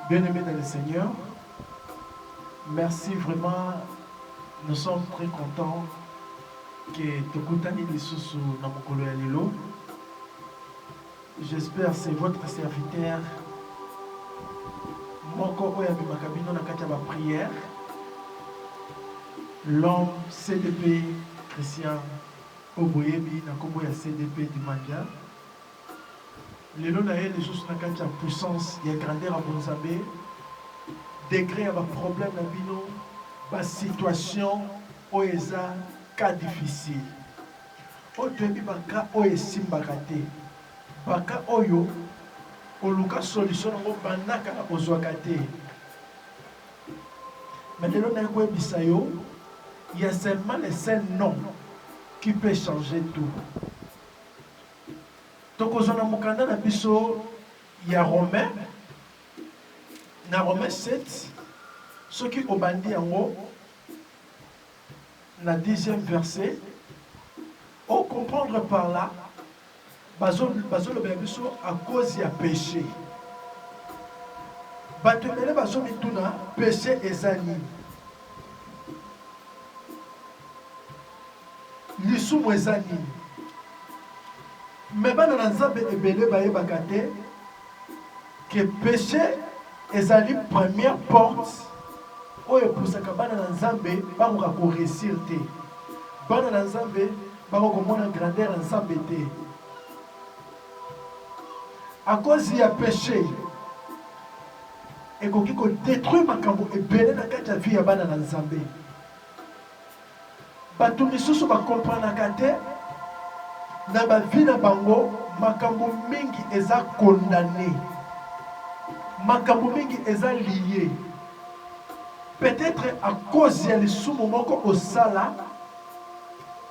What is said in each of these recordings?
Bien aimé dans le Seigneur, merci vraiment. Nous sommes très contents que Tokutani Lisusu Namokolo ya Lelo. J'espère c'est votre serviteur moko oyo abimaka bino na kati ya baprière l'homme cdp christian Oyo boyebi na kombo ya CDP Dimanja, lelo na ye lisusu na kati ya puissance ya grandeur ya Bonzambe, degre ya ba problèmes na bino, ba situations oyo eza cas difficile. Oyo toyebi ba cas oyo esimbaka te, ba cas oyo koluka solution na ngo banda kala kozwaka te. Mais lelo naye koyebisa yo il ya seulement le seul nom qui peut changer tout. Tokozwa na mokanda na biso ya Romain na Romain 7 soki obandi yango na 10e verset o comprendre par là Bazo bazo lobela biso à cause ya peche. Batu ebele bazo mituna peche eza nini? Lisumu eza nini? Mais bana na Nzambe ebele bayebaka te. Que peche ezali première porte oyo epusaka bana na Nzambe bakoka ko reussir te. Bana na Nzambe bakoki komona grandeur ya Nzambe te. A cause ya peche ekoki ko detruire makambo ebele na kati ya vie ya bana na Nzambe. Bato misusu ba comprenaka te na ba vie na bango makambo mingi eza condamne makambo mingi eza lie peut etre a cause ya lisumu moko osala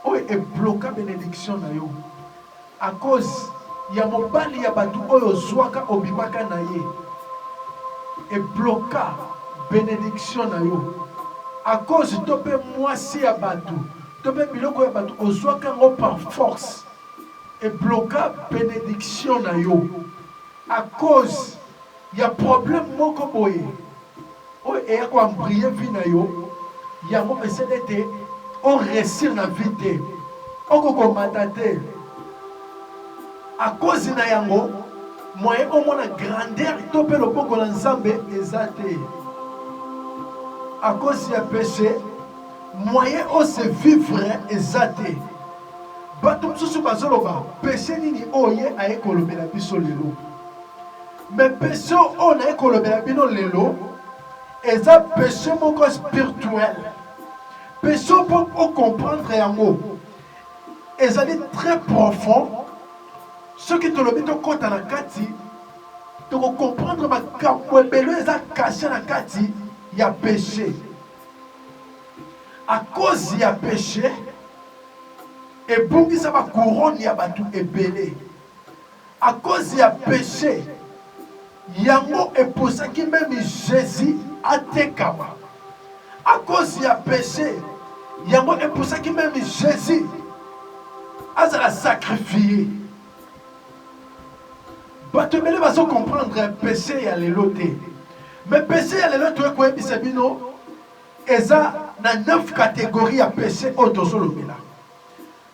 oyo e bloka benediction na yo A cause ya mobali ya batu oyo ozuaka obimaka naye e bloka benediction nayo a cause to pe muasi ya batu to pe biloko ya batu ozuaka yango par force e bloka benediction nayo a cause ya problème moko boye oyo eya ko embriller vie na yo yango esali ete o reussir na vie te oko komata te à cause na yango moyen omona grandeur to mpe loboko na Nzambe eza te à cause ya péché moyen o se vivre eza te bato mosusu bazoloba péché nini oyo ye aye kolobela biso lelo Mais peche oyo naye kolobela bino lelo eza peche moko spirituel. Peche mpo o comprendre yango ezali très profond. Soki tolobi tokota na kati toko comprendre makambo ebele eza cache na kati ya peche. A cause ya peche ebungisa ba couronne ya batu ebele. A cause ya peche yango e poussaki meme Jesus atekama. A cause ya peche yango e poussaki meme Jesus azala sacrifier. Bato ebele bazo comprendre peche ya lelo te. Mais peche ya lelo toye koyebisa bino eza na 9 categories ya peche oyo tozo lobela.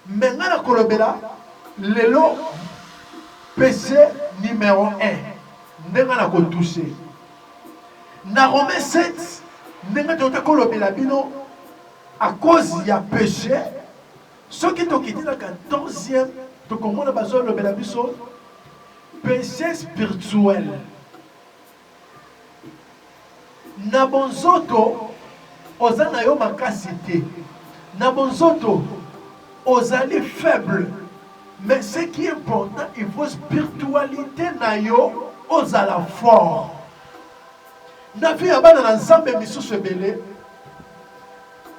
Mais nga na kolobela lelo PC numero un nde nga na ko touche na Romain 7 ndenge toyota kolobela bino à cause ya péché soki tokiti na 14e tokomona bazolobela biso péché spirituel Na bonzoto oza na yo makasi te na bonzoto ozali faible mais ce qui important il faut spiritualite na yo ozala fort na vie ya bana na nzambe misusu ebele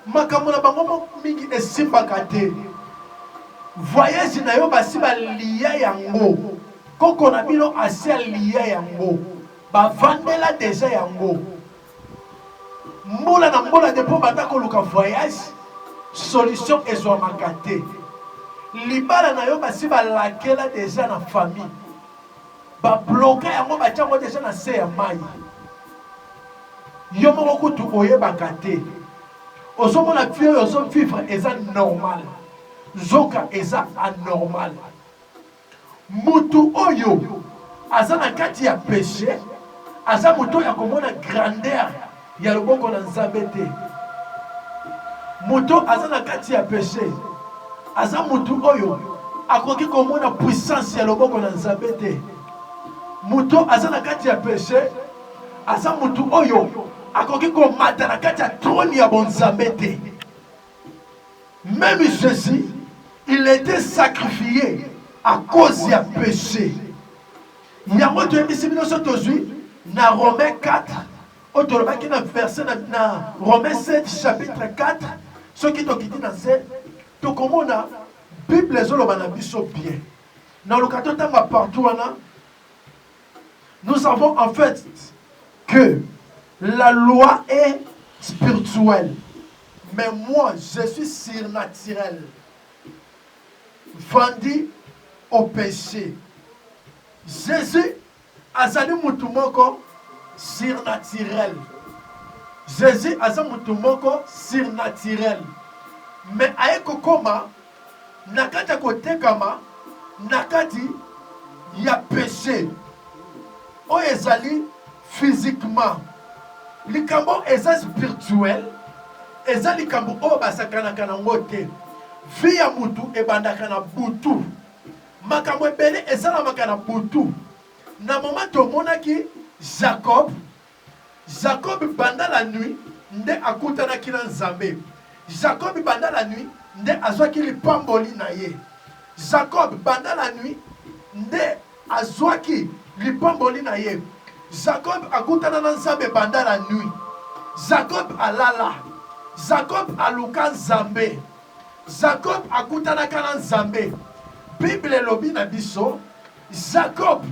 Makambo na bango moko mingi esimbaka te. Voyage na yo basi ba lia yango. Koko na bino asi alia yango. Ba vandela deja yango. Mbula na mbula depuis obanda koluka voyage, solution ezwamaka te. Libala na yo basi ba lakela deja na famille. Ba bloka yango batia yango deja na se ya mayi. Yo moko kutu oyebaka te. Ozomona vie oyo ozo vivre eza normal. Nzoka eza anormal. Mutu oyo aza na kati ya peche aza moto oyo akomona grandeur ya loboko na Nzambe te. Moto aza na kati ya peche aza moto oyo akoki komona puissance ya loboko na Nzambe te. Moto aza na kati ya peche aza moto oyo akoki komata na kati ya trone ya bonzambe te. Même Jésus, il était sacrifié à cause ya peche. Yango toyebisi bino so tozwi na Romain 4 oyo tolobaki na verse na, na Romain 7 chapitre 4 soki tokiti na nse tokomona bible ezoloba na biso bien naloka totanga partout wana nous savons en fait que la loi est spirituelle mais moi je suis surnaturel Vandi o peche. Jesus azali mutu moko surnaturel. Jesus aza mutu moko surnaturel. Mais aye kokoma na kati ya kotekama na kati ya peche oyo ezali physiquement likambo eza spirituel eza likambo oyo basakanaka na ngo te vie ya mutu ebandaka na butu makambo ebele esalamaka na butu na moma tomonaki jacob jacob banda la nuit nde akutanaki na nzambe jacob banda la nuit nde azwaki lipamboli na ye jacob banda la nuit nde Azwaki lipamboli na ye. Jakob akutana na Nzambe banda la nuit. Jakob alala. Jakob aluka Nzambe. Jakob akutanaka na Nzambe. Bible elobi na biso Jakob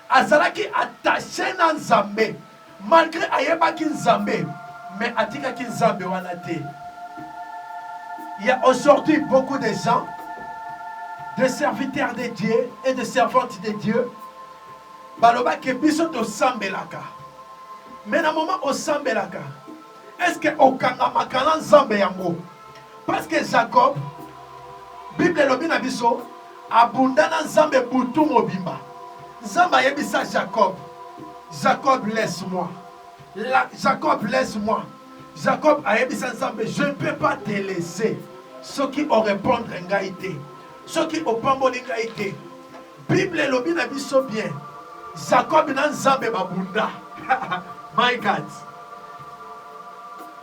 azalaki attache na Nzambe. Malgre ayebaki nzambe mais atikaki nzambe wana te ya aujourd'hui beaucoup de gens de serviteurs de Dieu et de servantes de Dieu baloba ke biso tosambelaka mais na moment osambelaka est ce que okangamaka na nzambe yango Parce que Jacob, Bible elobi na biso, abunda na Nzambe butu mobimba. Nzambe ayebisa Jacob, Jacob laisse-moi. La, Jacob laisse-moi. Jacob ayebisa Nzambe, je ne peux pas te laisser soki o répondre ngai te. Soki opamboli ngai te. Bible elobi na biso bien Jacob na Nzambe babunda. My God.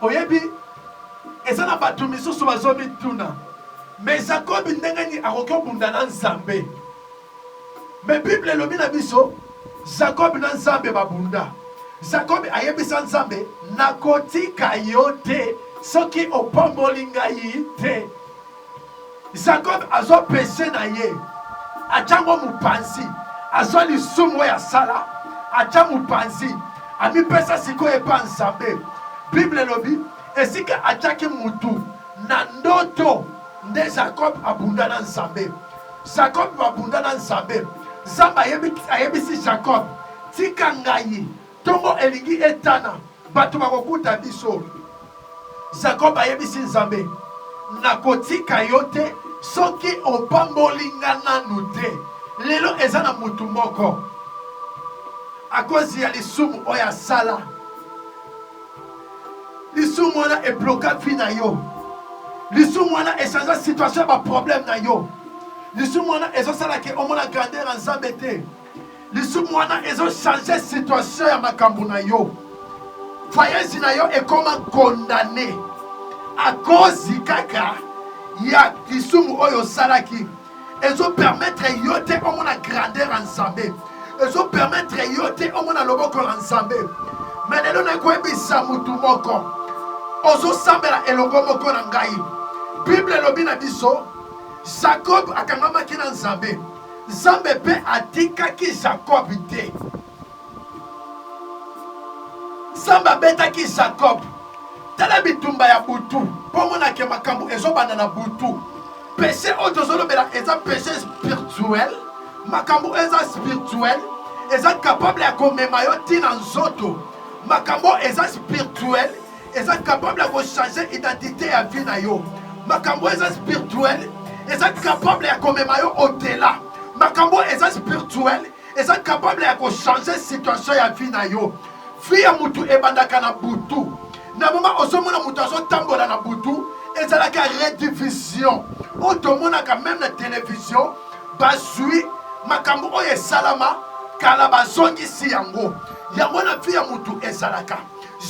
Oyebi eza na bato misusu bazomituna me Jacob ndenge nini akoki obunda na Nzambe? Me Bible elobi na biso Jacob na Nzambe babunda. Jacob ayebisa Nzambe nakotika yo te soki opamboli ngai te. Jacob azwa peche na ye, atya yango mopanzi, azwa lisumu oyo asala, atya mopanzi, amipesa sikoyo epa Nzambe. Bible elobi esika atyaki mutu na ndoto nde Jacob abunda na Nzambe. Jacob abunda na Nzambe, Nzambe ayebisi Jacob, tika ngai Tongo elingi etana, bato bakokuta biso. Zakob ayebisi Nzambe, Nakotika yo te soki opamboli nga nanu te. Lelo eza na mutu moko akozi ya lisumu oyo asala, lisumu wana ebloka vie na yo, lisumu wana echange situation ya baproblème na yo, lisumu wana ezosala ke omona grandeur ya Nzambe te. lisumu wana ezo change situation ya makambo na yo voyage na yo ekoma condamne akozi kaka ya lisumu oyo osalaki ezopermetre yo te omona grandeur ya nzambe ezopermetre yo te omona loboko ya nzambe me lelo nakoyebisa motu moko ozosambela elongo moko na ngai bible elobi na biso jakob akangamaki na nzambe Nzambe mpe atikaki Jakob te. Nzambe abetaki Jakob. Tala bitumba ya butu mpo omona ke makambo ezobanda na butu. Peshe oyo tozolobela eza peshe spirituel, makambo oyo eza spirituel, eza kapable ya komema yo ntina nzoto. Makambo eza spirituel eza capable ya kochanger identité ya vie na yo makambo eza spirituel eza capable ya komema yo otela makambo eza spirituel eza capable ya kochanger situation ya vie na yo vie ya motu ebandaka na butu na moma ozomona moto azotambola na butu ezalaka redivision oyo tomonaka meme na televizio bazwi makambo oyo esalama kala bazongisi yango yango na vie ya motu ezalaka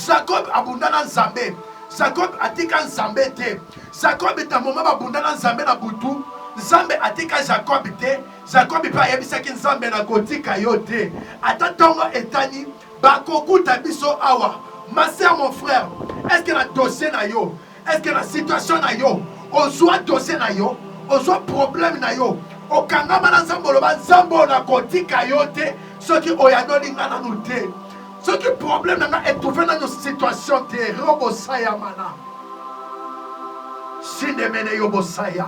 Jacob abunda na Nzambe. Jacob atika Nzambe te. Jacob ta moma babunda na Nzambe na butu. Nzambe atika Jacob te. Jacob pe ayebisaki Nzambe na kotika yo te. Ata ntongo etani bakokuta biso awa. Ma sœur, mon frère, est-ce que na dossier na yo Est-ce que na situation na yo ozwa dossier na yo ozwa problème na yo okangama na nzambe oloba nzambe oyo nakotika yo te soki oyanoli nga nanu te soki problème na nga etrouve nanu situation te robosayamana sindemene yobosaya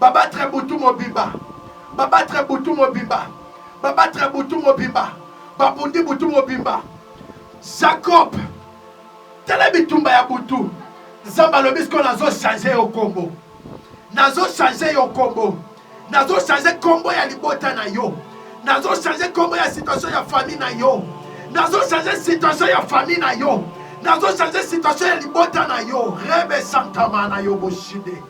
Ba battre butu mobimba Ba battre butu mobimba Ba battre butu mobimba Ba bundi butu mobimba Jacob Tala bitumba ya butu Nzambe alobi sikoyo nazo change yo kombo Nazo change yo kombo Nazo change kombo ya libota na yo Nazo change kombo ya situation ya famille na yo Nazo change situation ya famille na yo Nazo change situation ya libota na yo Rebe Santama na yo boshide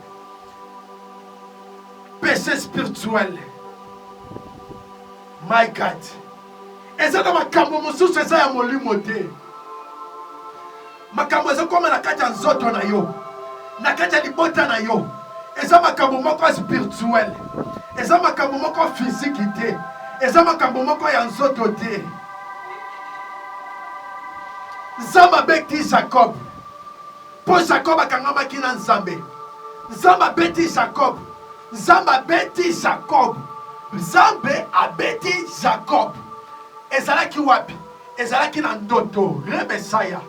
péché spirituel my god eza na makambo mosusu eza ya molimo te makambo ezokoma na kati ya nzoto na yo na kati ya libota na yo eza makambo moko ya spirituel eza makambo moko ya fiziki te eza makambo moko ya nzoto te nzambe abeti jacob Mpo Jakob akangamaki na Nzambe. Nzambe abeti Jakob. Nzambe abeti Jakob. Nzambe abeti Jakob. Ezalaki wapi? Ezalaki na ndoto. Rebesaya.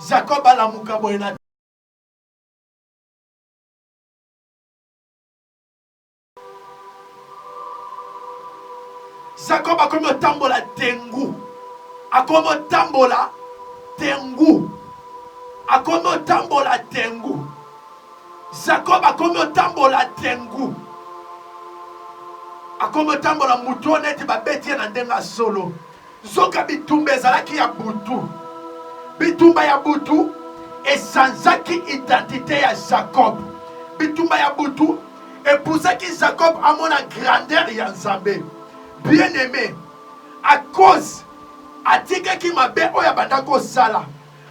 Jakob alamuka boye na Jacob akomi otambola tengu, akomi otambola tengu, akomi otambola tengu. Jacob akomi otambola tengu, akomi otambola moto neti babeti ye na ndenge ya solo. Nzoka bitumba ezalaki ya butu. Bitumba ya butu esanzaki identite ya Jacob. Bitumba ya butu epusaki Jacob amona grandeur ya Nzambe. Bien aime, a cause atikaki mabe oyo abanda kosala,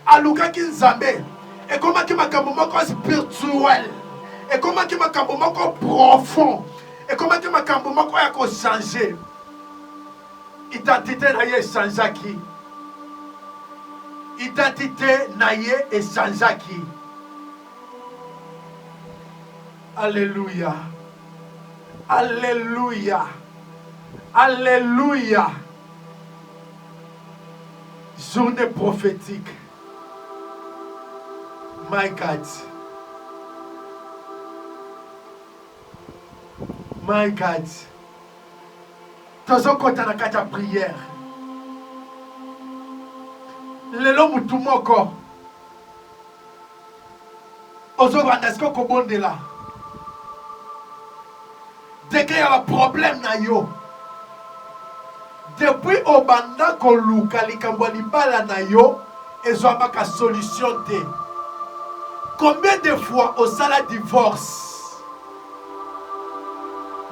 alukaki Nzambe. Ekomaki makambo moko spirituel, ekomaki makambo moko profond, ekomaki makambo moko ya kochange. Identite na ye echangeaki. Identite na ye echangeaki. Alléluia. Alléluia. Alléluia. Journée prophétique. My God. My God. tozokota na kati ya priere lelo mutu moko ozobanda siko kobondela degre ya baproblème na yo depuis obanda koluka likambo ya libala na yo ezwamaka solution te combien de fois osala divorce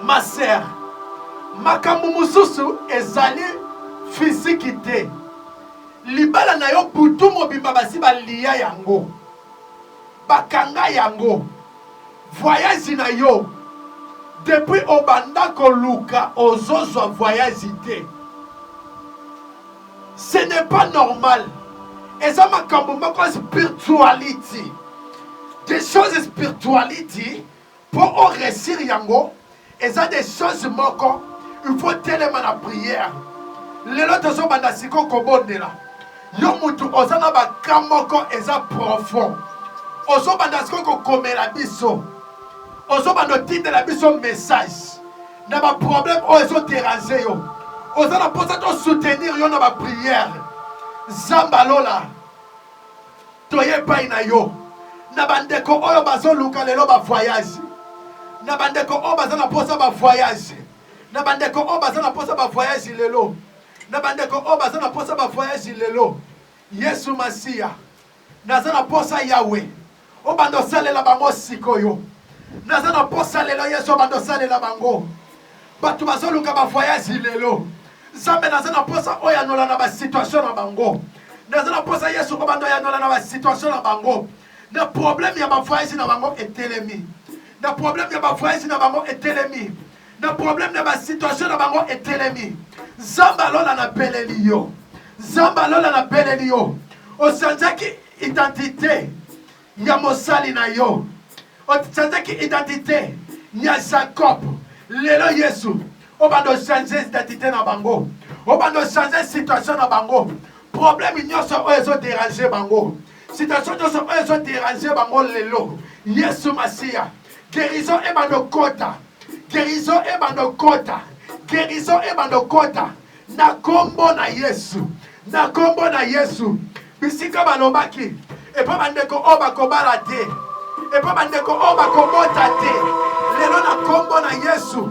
Ma sœur, makambo mosusu ezali fiziki te. Libala na yo butu mobimba basi baliya yango, bakanga yango. Voyage na yo depuis obanda koluka ozozwa voyage te. Ce n'est pas normal. Eza makambo moko ya spirituality. Des choses spirituality po o resir yango eza des choses moko il faut telema na prière. Lelo tozo banda siko kobondela. Yo mutu oza na ba cas moko eza profond. Ozo banda siko kokomela biso. Ozo banda otindela biso message. na ba problème oyo ezo déranger yo oza na posa to soutenir yo na ba prière zamba lola toye epai na yo na bandeko oyo bazoluka lelo ba voyage na bandeko oyo baza na posa ba voyage na bandeko oyo baza na posa ba voyage lelo na bandeko oyo baza na posa ba voyage lelo yesu masiya Naza na posa Yahwe obanda osalela bango sikoyo naza na posa lelo Yesu obanda osalela bango bato bazoluka ba voyage lelo Nzambe naza na posa oyanola na ba situation na bango naza na posa Yesu obanda oyanola na ba situation na bango na problème ya ba voyage na bango etelemi na problème ya ba voyage na bango etelemi na problème na ba situation na bango etelemi nzambe alola na beleli yo nzambe alola na beleli yo osanzaki identité ya mosali na yo osanzaki identité ya jacob lelo yesu obanda ochange identité na bango obanda ochange situation na bango problème nyonso oyo ezoderange bango situation nyonso oyo ezoderange bango lelo yesu masiya Guérison et bandokota. Guérison et bandokota. Guérison et bandokota. Na kombo na Yesu. Na kombo na Yesu. Bisika balobaki. Epa bandeko oyo bakobala te. Epa bandeko oyo bakobota te. Lelo na kombo na Yesu.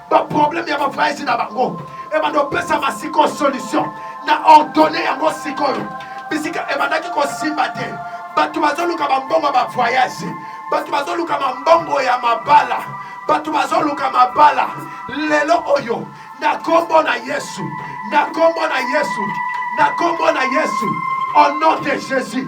ba problème ya bavayasi na bango ebanda opesama sikoyo solution na ordonne yango sikoyo bisika ebandaki kosimba te bato bazoluka bambongo ya bavoyage bato bazoluka mambongo ya mabala bato bazoluka mabala lelo oyo na nkombo na yesu na nkombo na yesu na nkombo na yesu au nom de jésus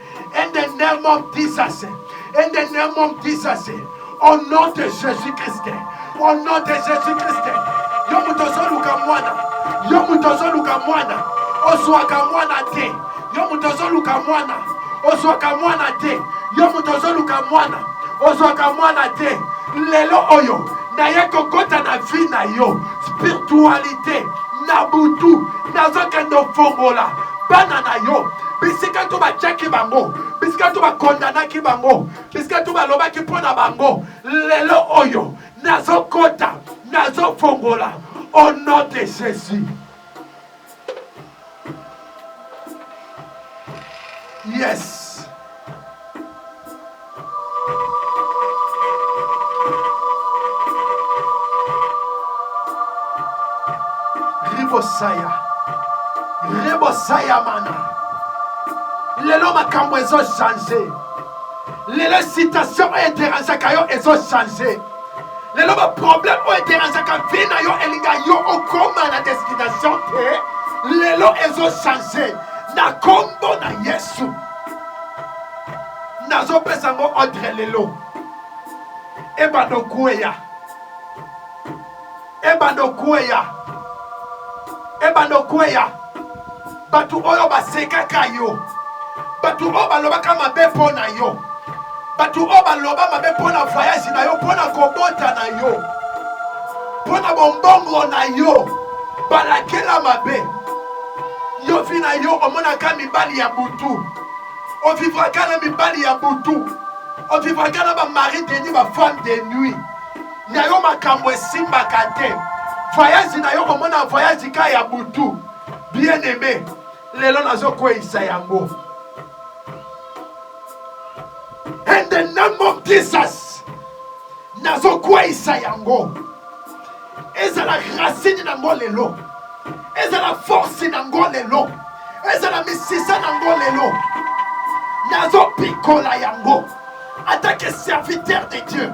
In the name of Jesus. In the name of Jesus. Au nom de Jésus-Christ. Au nom de Jésus-Christ. Yo moto ozoluka mwana. Yo moto ozoluka mwana. Ozwaka mwana te. Yo moto ozoluka mwana. Ozwaka mwana te. Yo moto ozoluka mwana. Ozwaka mwana te. Lelo oyo naye kokota na vie na yo. Spiritualité. na butu nazokende ofongola bana na yo bisika to batyaki bango bisika to bakondanaki bango bisika to balobaki mpo na bango lelo oyo nazokota nazofongola au nom de jésus Yes! Ribosaya. Ribosaya mana. Lelo makambo ezo changer. Lelo situation oyo ederangeaka yo ezo changer. lelo ba problème oyo ederangeaka vie na yo elinga yo okoma na destination te lelo ezo change na kombo na yesu nazopesa yango ordre lelo ebanda okueya Ebanda okueya, ebanda okueya. Bato oyo basekaka yo, bato oyo balobaka mabe mpo na yo, bato oyo baloba mabe mpo na voyage na yo, mpo na kobota na yo, mpo na bombongo na yo, balakela mabe yo. Vi na yo omonaka mibali ya butu, ovivraka na mibali ya butu, ovivraka na bamari de nuit, bafemme de nuit. na yo makambo esimbaka te voyage na yo komona voyage ka ya butu bien aime lelo nazokweisa yango in the name of jesus nazokweisa yango ezala racine na ngo lelo ezala force na ngo lelo ezala misisa na ngo lelo nazopikola yango atake serviteur de dieu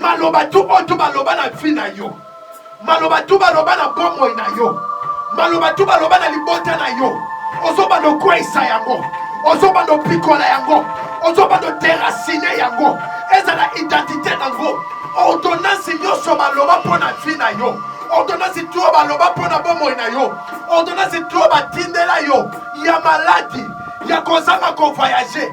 maloba tu oyo tu baloba na vie na yo maloba tu baloba na bomoi na yo maloba tu baloba na libota na yo ozobanda okweisa yango ozobanda opikola yango ozobanda oterasine yango ezala identité na yango ordonnance nyonso baloba mpo na vie na yo ordonnance tu oyo baloba mpo na bomoi na yo ordonnance tu oyo batindela yo ya maladi ya kozanga kovoyage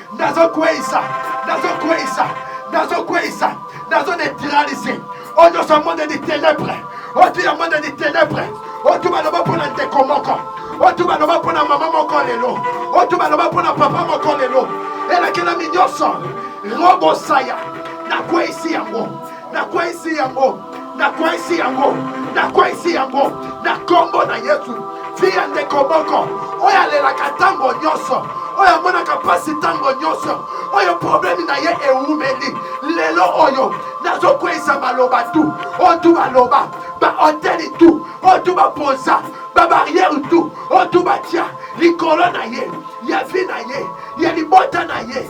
nazokweisa nazokweisa nazokweisa nazo neutralise oyo nyonso ya monde de ténèbre otu ya monde de ténèbre otu baloba mpo na ndeko moko otu baloba mpo na mama moko lelo otu baloba mpo na papa moko lelo elakelami nyonso robosaya nakweisi yango Nakweisi yango, nakweisi yango, nakweisi yango na nkombo na Yesu. Fille ya ndeko moko oyo alelaka ntango nyonso, oyo amonaka mpasi ntango nyonso, oyo problemi na ye ewumeli, lelo oyo nazokweisa maloba tu oyo tu baloba bahoteli tu oyo tu bapoza babariere tu oyo tu batya likolo na ye ya vi na ye ya libota na ye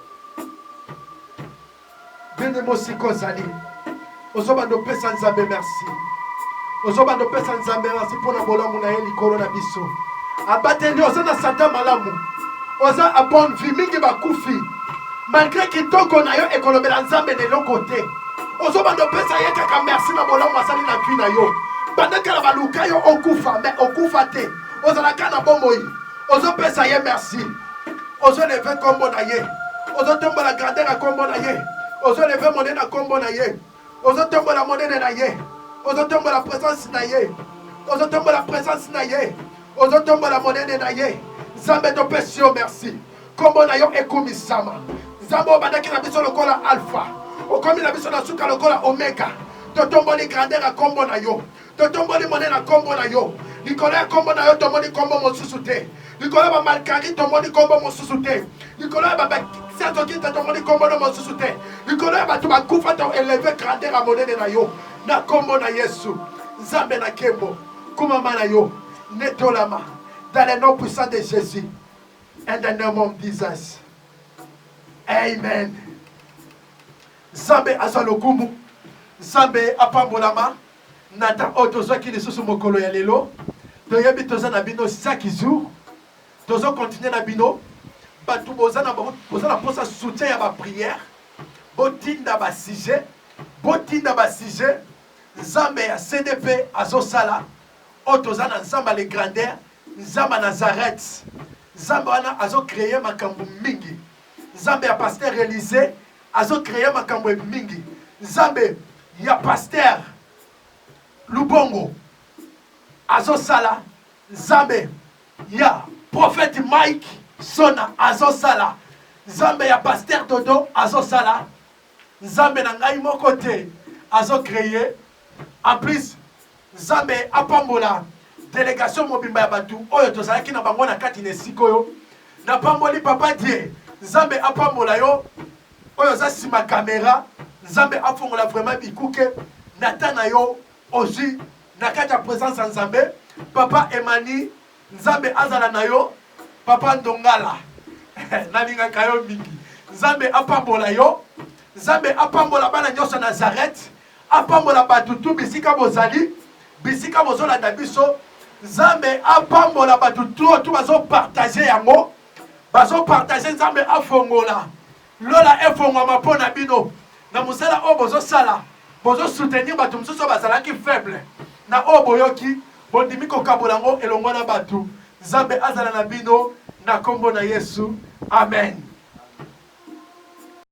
ndenge mosika ozali ozobanda opesa nzambe merci ozobanda opesa nzambe merci mpo na bolamu na ye likolo na biso abateli oza na santa malamu oza abonne vie mingi bakufi malgre kitoko na yo ekolobela nzambe na eloko te ozobanda opesa ye kaka merci na bolamu asali na vie na yo banda kala baluka yo okufa me okufa te ozalaka na bomoi ozopesa ye merci ozoleve nkombo na ye ozotombola grande na nkombo na ye ozoleve monene na nkombo na ye ozotombola monene na ye ozotombola presence na ye ozotombola presence na ye ozotombola monene na ye nzambe topesi yo merci nkombo na yo ekumisama nzambe obandaki na biso lokola alpha okomi na biso na suka lokola omega totomboli grandeur ya nkombo na yo Totomboli mone na kombo na yo. Likolo ya kombo na yo tomoni kombo mosusu te. Likolo ya bamalkari tomoni kombo mosusu te. Likolo ya babakisatokita tomoni kombo no mosusu te. Likolo ya bato bakufa to eleve grandeur ya monene na yo na kombo na Yesu. Nzambe na kembo, kumama na yo netolama dans le nom puissant de Jésus. In the name of Jesus. Amen. Nzambe azwa lokumu. Nzambe apambolama. Na temps oyo tozwaki lisusu mokolo ya lelo toyebi toza na bino chaque jour tozo continue na bino batu boza na boza na posa soutien ya ba prière botinda ba sujet botinda ba sujet nzambe ya CDP azosala oyo toza na nzambe le grandeur nzambe ya Nazareth nzambe wana azo cree makambo mingi Nzambe ya pasteur Elise azo creer makambo ebi mingi. Nzambe ya pasteur Lubongo azo sala. Nzambe ya prophète Mike Sona azo sala. Nzambe ya pasteur Dodo azo sala. Nzambe na ngai moko te azo creer. En plus Nzambe apambola delegation mobimba ya batu oyo tozalaki na bango na kati na esika oyo. Napamboli papa Die, Nzambe apambola yo oyo oza sima camera, Nzambe afongola vraiment bikuke na temps na yo ozui na kati ya presence ya Nzambe. Papa Emani, Nzambe azala na yo, papa Ndongala nalingaka yo mingi, Nzambe apambola yo, Nzambe apambola bana nionso ya Nazareth. Apambola batu tout bisika bozali bisika bozolanda biso nzambe apambola batu tout tout bazo partage yango bazo partage nzambe afongola lola efongwama po na bino na mosala oyo bozosala bozo soutenir batu mosusu oyo bazalaki faible na oyo boyoki bondimi kokabola yango elongo na batu nzambe azala na bino na kombo na yesu amen